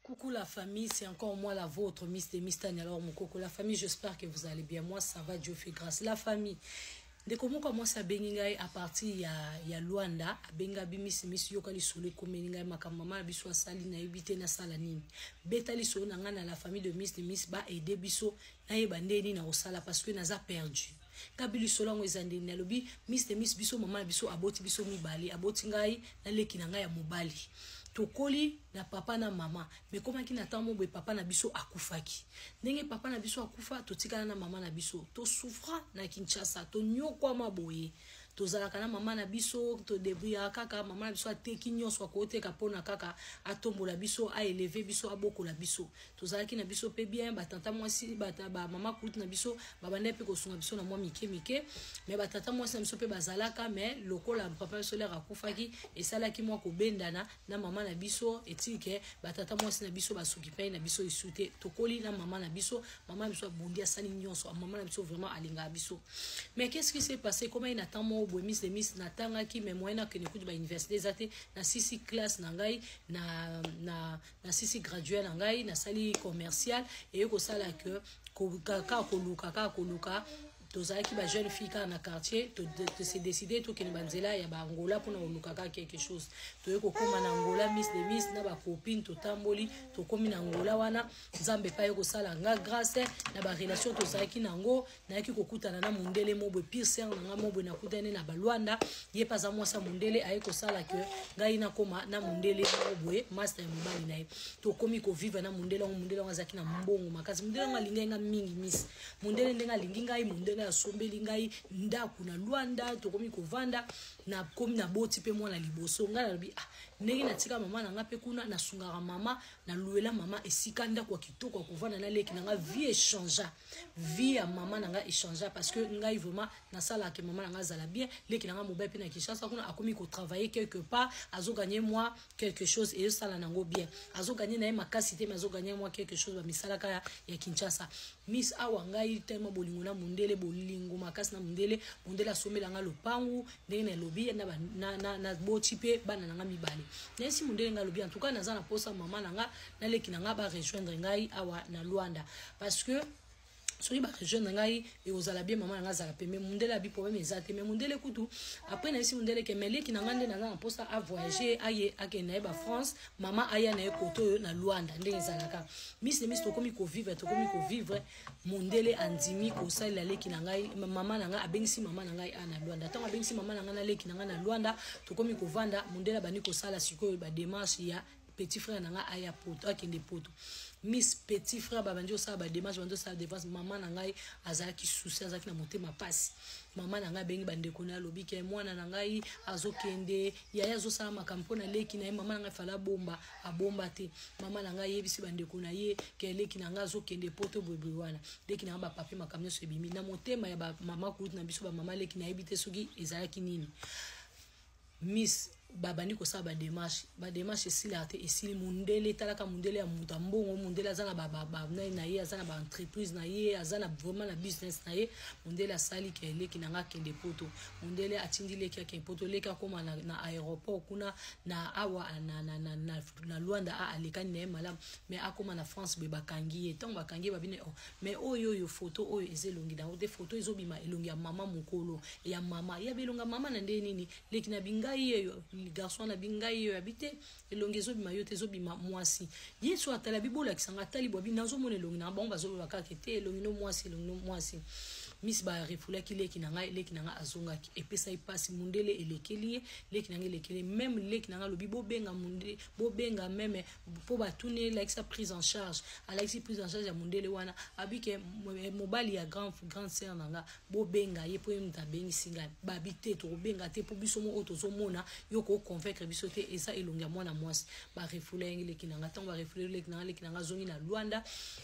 Coucou la famille, c'est encore moi la vôtre, Miss de Miss Tania alors mon coco. La famille, j'espère que vous allez bien. Moi, ça va, Dieu fait grâce. La famille, ndeko moko ya mwasi abengi ngai a partir ya, ya luanda abengi abi misi misi yoka lisolo ekomeli ngai makambo mama na biso asali nayebi te nasala nini beta lisolo na ngai na la famille de miss de miss baede biso nayeba nde nini nakosala parce que naza perdu kabi lisolo yango eza ndeni nalobi miss de miss biso mama na biso aboti biso mibale aboti ngai na leki na ngai ya mobali tokoli na papa na mama me ekomaki na ntango moboye papa na biso akufaki ndenge papa na biso akufa totikala na mama na biso tosufra na kinshasa tonyokwama boye tozalaka na mama na biso todebriyaka kaka mama na biso ateki nyonso akoteka mpona kaka atombola biso aeleve biso abokola biso tozalaki na biso mpe bien batata mwasi bamama kulutu na biso babandaki mpe kosunga biso na mwa mike mike me batata mwasi na biso mpe bazalaka me lokola papa biso lere akufaki esalaki mwa kobendana na mama na biso etike batata mwasi na biso basokipani na biso lisu te tokoli na mama na biso mama na biso abundi asali nyonso mama na biso vraiment alingaka biso mais qu'est ce qui s'est passé komaki na temps moko boye mis de mis natangaki me moyen akende kutu bauniversité eza te na sisi classe na ngai na, na nasisi graduel na ngai nasali commercial eye kosala ke kaka koluka kaka koluka tozalaki ba jeune fille kaka na quartier tose décide tokende banzela ya baangola mpona koluka kaka quelque chose toye kokóma na angola miss de miss na bacopine totamboli tokómi na angola wana nzambe epai kosala nga grâce na barelation tozalaki na yango nayaki kokutana na mondele mobwe pire ser na ngai mobwe nakutani na balwanda ye mpe aza mwasi ya mondele aye kosala ke ngai nakoma na mondele mobwe master ya mobali na ye tokomi koviva na mondele yango mondele yango azalaki na mbongo makasi mondele yango alingai ngai mingi misi mondele ndenge alingi ngai mondele asombeli ngai ndako na lwanda tokomi kovanda nakomi naboti mpe mwana liboso ngai nalobi ah ndenge natika mama na ngai mpe kuna nasungaka mama naluela mama esika ndako ya kitoko ya kovanda na leki na ngai vie echangea vie ya mama na ngai echangea parce que ngai vraiment nasalaka ke mama na ngai azala bien leki na ngai mobali mpe na kinshasa kuna akomi kotravaille quelque part azoganye mwa quelque chose eyosala na yango bien azoganye na ye makasi te me azoganye mwa quelque chose bamisalaka ya, ya kinshasa miss awa ngai tema bolingo na mondele bolingo makasi na mondele mondele asombela ngai lopangu ndenge nalobi naboti mpe bana na ngai mibale nayesi mondele ngai alobi en tout cas naza na mposa mama na ngai na leki na ngai ba rejoindre ngai awa na Luanda parce que soki barejoindre ngai ekozala bien mama na ngai azala pembe mundele abi problème eza te mais mundele kutu après nayebisi mundele ke meleki na ngai nde naza na mposa avoyage aye akende na ye bafrance mama aya na ye kote oyo na luanda ndenge ezalaka misi na misi tokomi kovivre tokomi kovivre mundele andimi kosalela leki na ngai mama na ngai abengisi mama na ngai a na luanda ntango abengisi mama na ngai na leki na ngai na luanda tokomi kovanda mundele abandi kosala sikoyo bademarche ya petit frère na ngai aya poto akende poto miss petit frère babandi osala bademarche bandi osala devance mama na ngai azalaki susi azalaki na motema mpasi mama na ngai abengi bandeko na ye alobi ke mwana na ngai azokende yaya azosala makambo mpo na leki na ye mama na ngai fala abomba abomba te mama na ngai ayebisi bandeko na ye ke leki na ngai azokende poto boyeboye wana leki na ngai bapapie makambo nyonso ebimi na motema ya bamama kulutu na biso bamama leki nayebi te soki ezalaki nini miss babandi kosala bademarche bademarche esilaka te esili mondele etalaka mondele ya moto ya mbongo mondele aza nabanani na ye aza na baentreprise na ye aza na vraiment na business na ye mondele asali ke eleki na nga akende poto mondele atindi leki akende poto leki akóma na, na aéroport kuna na awa na, na, na, na, na luanda a alekani na ye malamu mais akóma na france boye bakangi ye ntango bakangi ye babine oh, mais oyo oyo foto oyo eza elongi na yango te foto ezobima elongi ya mama mokolo ya mama ya bilonga mama na ndenge nini leki na bingai yeyo garçon na bingai yeyo abi te elongi ezobima yo te ezobima mwasi yesu atala bibolakisa nga atali bwa bino nazomona elongi na bango bazoloba kaka te elongi no mwasi elongi no mwasi miss barefulaki leki na ngai leki na ngai azongaki epesa ye mpasi mundele elekeli ye leki na ngai elekeli ye meme leki na ngai alobi bobenga mundele bobenga meme mpo batuni elakisa prise en charge alakisi prise en charge ya mondele wana abi ke eh, mobali ya grand, grande sœur na nga bobenga ye mpo ye moto abengisi ngai babi te tokobenga te mpo biso moko tozomona yo koconvaincre biso te eza elongi ya mwana mwasi barefule yangi leki na nga ntango barefule leki na nga leki na nga azongi na lwanda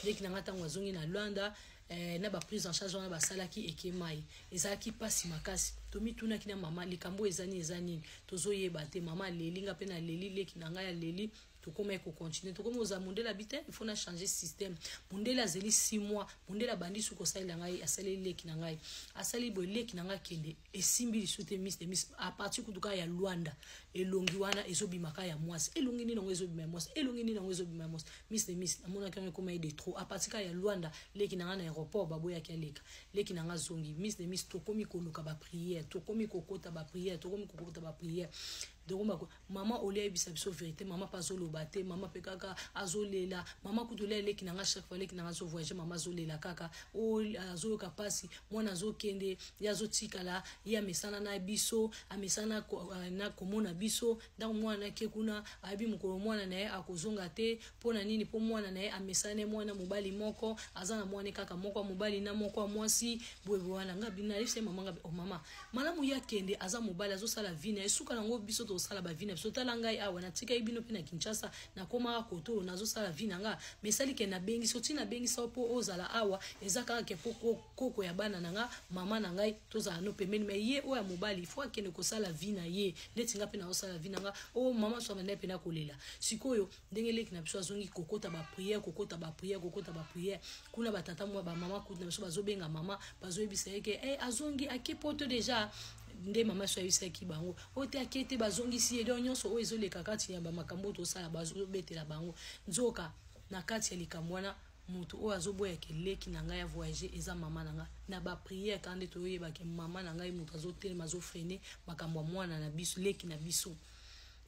leki na nga ntango azongi na lwanda eh, na ba prise en charge wana basalaki ekemai ezalaki mpasi makasi tomitunaki na mama likambo eza nini eza nini tozoyeba te mama aleli nga mpe naleli leki na ngai aleli tokomaki kocontinue tokomi kozala mondele abi te il faut na change système mondele azeli 6 mois mondele abandi suki kosalela ngai asaleli leki na ngai asali boye leki na ngai akende esimbi lisusu te miss de miss aparti kutu kaka ya luanda elongi wana ezobima kaka ya mwasi elongi nini yango ezobima ya mwasi elongi nini yango ezobima ya mwasi miss de miss namonaki yango ekoma ye de trop aparti kaka ya luanda leki na ngai na aéroport baboyaki aleka leki na ngai azongi miss de miss tokomi koluka baprière tokomi kokota baprière tokomi kokota baprière donc bako mama olia ayebisa biso verité mama mpe azoloba te mama mpe kaka azolela mama kutu olia eleki na nga chaque fois eleki na nga azovoyage mama azolela kaka o azoyoka mpasi mwana azokende ye azotikala ye amesana na biso amesana euh, na komona biso ntango mwana ake kuna ayebi mokolo mwana na ye akozonga te mpo na nini mpo mwana na ye amesane mwana mobali moko aza na mwana kaka moko ya mobali na moko ya mwasi boyeboye wana nga binayebisa ye mama nga o oh, mama malamu ye akende aza mobali azosala vi na ye suka nango biso tozosala bavi na biso tala ngai awa natikaki bino mpe na kinshasa nakomaka kotolo nazosala vi na nga mesali ke nabengisi oti nabengisa mpo ozala awa eza kaka ke mpo koko ya bana na nga mama na ngai tozala no pembeni me ye oyo ya mobali fo akende kosala vi na ye ndeti nga mpe nazosala vi na nga o oh, mama swamana mpe nakolela sikoyo ndenge leki na biso azongi kokota bapriere kokota bapriere kokota bapriere kuna batata mwa bamama kutu na biso bazobenga mama bazoyebisa ye ke hey, eh, azongi ake poto deja nde mama so ayebisaki bango oyo te ake te bazongisi ye donc nyonso oyo ezoleka kati ya bamakambo oyo tosala bazobetela bango nzoka na kati ya likambo wana moto oyo azoboya keleki na ngai ya voyage eza mama na ngai na bapriere kaka nde toyoyebake mama na ngai moto azotelema azofrene makambo ya mwana na biso leki na biso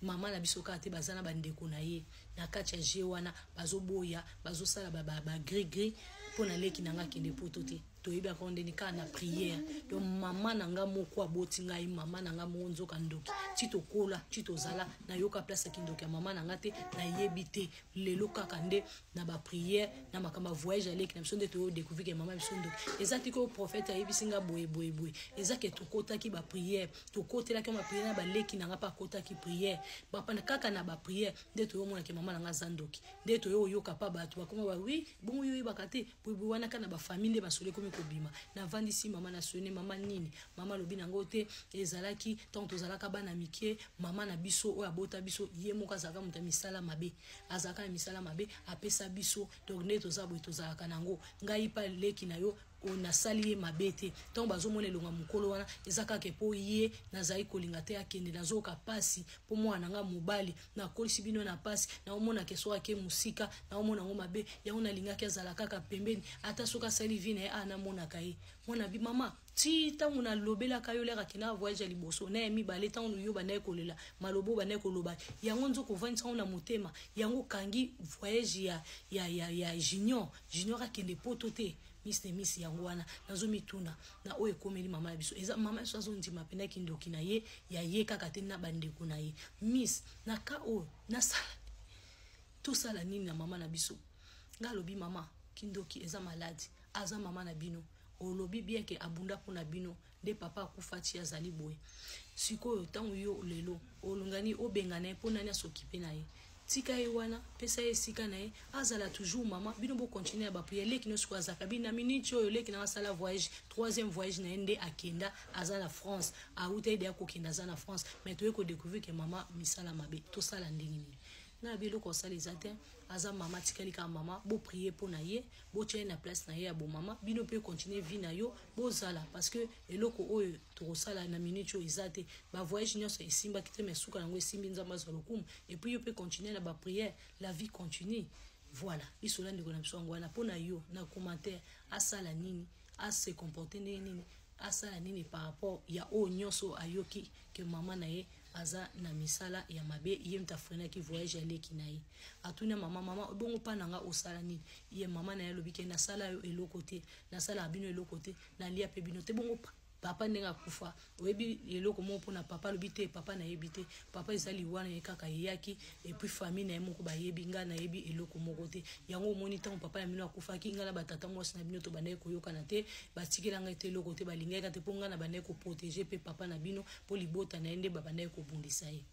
mama na biso kaka te baza na bandeko na ye na kati ya je wana bazoboya bazosala bagrigri mpo na leki na ngai akende poto te toyebi yango ndeni kaka na priere donc mama na ngai moko aboti ngai mama na ngai moko nzoka ndoki ti tokola ti tozala nayoka place ya kindoki ya mama na ngai te nayebi te lelo kaka nde na bapriere na makambo ya voyage ya leki na biso nde toyo découvrir ke mama biso ndoki eza ti koyo prophète ayebisi ngai boye boye boye eza ke tokotaki bapriere tokotelaki yango bapriere na baleki na nga mpe akotaki priere bapanda kaka na bapriere nde toyomonaki mama na nga aza ndoki nde toyo oyoka mpa bato bakoma ba wi bongo yo oyebaka te boyebwi wana kaka na bafamille nde masolo ekomi kobima navandisi mama na sone mama nini mama alobi na yango te ezalaki ntango tozalaka bana mike mama na biso oyo abota biso ye moko azalaka moto ya misala mabe azalaka na misala mabe apesa biso donc nde toza boye tozalaka na yango ngai mpa leki na yo oyo nasali ye mabe te ntango bazomona elonga mokolo wana eza kaka mpo ye nazali kolinga te akende nazoyoka mpasi mpo mwana na ngai mobali nakolisi bino na mpasi naomonaka esoki ake mosika naomona yango mabe yango nalingaki azala kaka pembeni ata soki asali vi na ye a namonaka ye mwana bi mama ti ntango nalobelaka yo lere akendaka voyage ya liboso na ya mibale ntango yo bandaki kolela maloba oyo bandaki koloba yango nzoka ovandisa yango na motema yango okangi voyage ya, ya, ya, ya junior junior akende poto te miss ne miss yango wana nazomituna na oyo ekomeli mama ya biso eza mama biso azondima mpena kindoki na ye ya ye kaka te na bandeko na ye miss na ka oyo nasala tosala nini na mama na biso nga alobi mama kindoki eza maladi aza mama na bino olobi bien ke abunda mpo na bino nde papa akufa ti azali boye sikoyo ntango yo lelo olingani obengana ye mpo nani asokipe na ye tika ye wana pesa ye esika na ye azala toujours mama bino bocontinue ya bapriere leki nyonso oyo azalaka bino na miniti oyo leki na asala voyage troisième voyage na ye nde akenda aza na france auta ede akokenda aza na france mais toye kodecouvrir ke mama misala mabe tosala ndenge nini na yabi eloko asala eza te aza mama atikali kaka mama boprie mpo na ye botya ye na place na ye ya bomama bino mpe continue vie na yo bozala parce que eloko oyo tokosala na minute oyo eza te bavoyage nyonso esimbaki te mais suka yango esimbi nzambe azwa lokumu epuis yo mpe continue na baprière la vie continue voilà lisola ndeko na biso yango wana mpo na yo na commentaire asala nini a se comporter ndenge nini asala nini par rapport ya oyo nyonso ayoki ke mama na ye aza na misala ya mabe ye moto afrenaki voyage ya leki na ye atuni ya mama mama ebongo mpa na nga osala nini ye mama na ye alobi ke nasala yo eloko te nasalaka bino eloko te nalia mpe bino te bongo papa ndenge akufa oyebi eloko moko mpona papa alobi te papa nayebi te papa eza liwa na ye kaka eyaki epuis famille na ye moko bayebi ngai nayebi eloko moko te yango omoni ntango papa ya mino akufaki ngai na batata mwasi na bino tobandaki koyokana te batikela ngai te eloko te balingaki te mpo ngai nabandaki koprotege mpe papa na bino mpo libota na ye nde babandaki kobundisa ye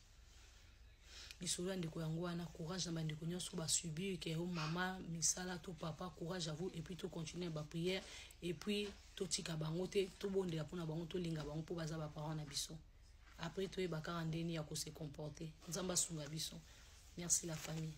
lisolo ya ndeko yango wana courage na bandeko nyonso basubir ke yo mama misala to papa courage à vous epuis tocontinue baprière epuis totika bango te tobondela mpona bango tolinga bango mpo baza baparent na biso après toyeba kaka ndeni ya kose comporte nzambe asunga biso merci la famille